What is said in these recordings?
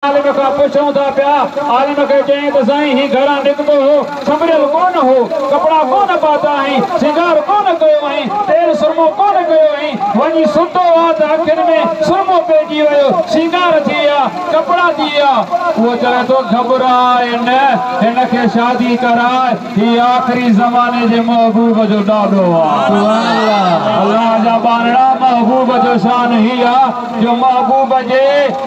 عالم کان پڇون ٿا پيا. عالم کي چيائين ته سائين هي گهران نڪتو هو، سنڀريل ڪونه هو، ڪپڙا ڪونه پاتا هئائين، سينگار ڪونه ڪيو هئائين، تيل سرمو ڪونه ڪيو هئائين، وڃي ستو ها ته اکين ۾ سرمو پئجي ويو، سينگار ٿي ويا، ڪپڙا ٿي ويا. هو چوي ٿو گهٻراء نه، هن کي شادي ڪراء، هي آخري زماني جي محبوب جو ڏاڏو آ. الله جا ٻارڙا! محبوب جو شان هي آ. جو محبوب جي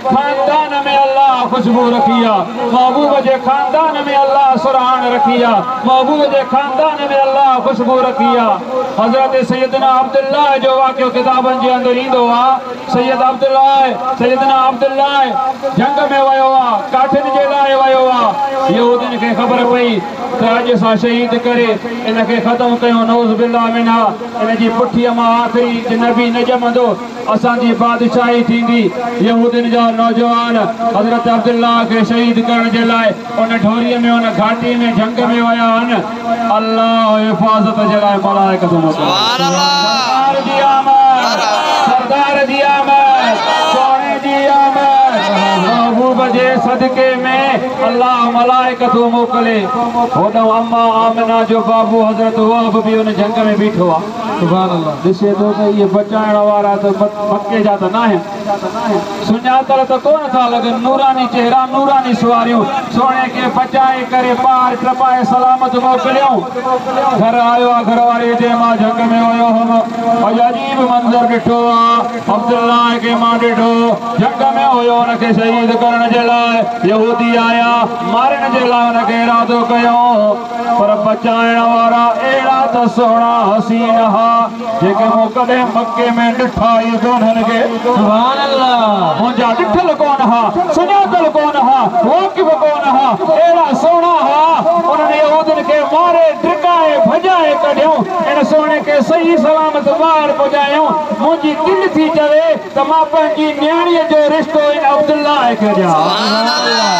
خاندان ۾ الله خوشبو رکي آ محبوب جي خاندان ۾ الله سرهاڻ رکي آ محبوب جي خاندان ۾ الله خوشبو رکي آ حضرت سيدنا عبدالله جو واقعو ڪتابن جي اندر ايندو آ سيد عبدالله سيدنا عبدالله جنگ ۾ ويو آ ڪاٺين جي لاء ويو آ يهودين کي خبر پئي ته اڄ اسان شهيد ڪري ان کي ختم ڪيون نعوذ بالله منها ان جي پٺيء مان آخري نبي نه ڄمندو اسان جي بادشاهي ٿيندي. يهودين جا نوجوان حضرت عبدالله کي شهيد ڪرڻ جي لاء ان ڍوريء ۾ ان گهاٽي ۾ جهنگ ۾ ويا هن. الله حفاظت جي لاء ملائڪتون موڪليون. سردار جي آمد! سردار جي آمد! سهڻي جي آمد! محبوب جي صدقي ۾ الله ملائڪتون موڪلي. هوڏانهن اما آمنه جو بابو حضرت وهب به ان جهنگ ۾ بيٺو آ. سبحان الله ڏسي ٿو ته اهي بچائڻ وارا ته مڪي جا ته ناهن سڃاتل ته ڪونه ٿا لڳن نوراني چهرا نوراني سواريون سهڻي کي بچائي ڪري پار ٽپائي سلامت موڪليون گهر آيو آ گهر واري جي مان جنگ ۾ ويو هوم اڄ عجيب منظر ڏٺو آ عبدالله کي مان ڏٺو جنگ ۾ هيو ان کي شهيد ڪرڻ جي لاء يهودي آيا مارڻ جي لاء ان کي ارادو ڪيو پر بچائڻ وارا اهڙا ته سهڻا حسين ها جيڪي مون ڪڏهن مڪي ۾ ڏٺا ئي ڪونهن ڪي. سبحان الله. منهنجا ڏٺل ڪونه ها، سڃاتل ڪونه ها، واقف ڪونه ها، اهڙا سهڻا ها. انهن يهودين کي ماري ڊڪائي ڀڄائي ڪڍيائون، ان سهڻي کي صحيح سلامت ٻاهر پڄايائون. منهنجي دل ٿي چوي ته مان پنهنجي نياڻيء جو رشتو ان عبدالله کي ڏيان. سبحان الله.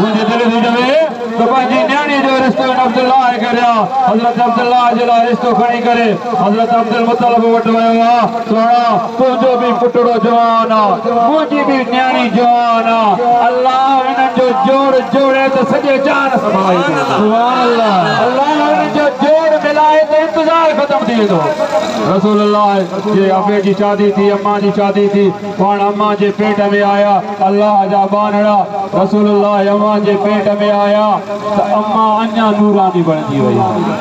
منهنجي دل ٿي چوي. ته پنهنجي نياڻي جو رشتو هن عبدالله کي ڏيان، حضرت عبدالله جي لاء رشتو کڻي ڪري حضرت عبدالمطلب وٽ ويو آ، سهڻا! تنهنجو به پٽڙو جوان آ، منهنجي به نياڻي جوان آ، الله انهن جو جوڙ جوڙي ته سڄي جهان سنڀالي ڏيندو، الله انهن جو جوڙ ملائي ته انتظار ختم ٿي ويندو. رسول الله جي ابي جي شادي ٿي، امان جي شادي ٿي. پاڻ امان جي پيٽ ۾ آيا الله جا ٻانهڙا رسول الله امان جي پيٽ ۾ آيا ته امان اڃا نوراني بڻجي وئي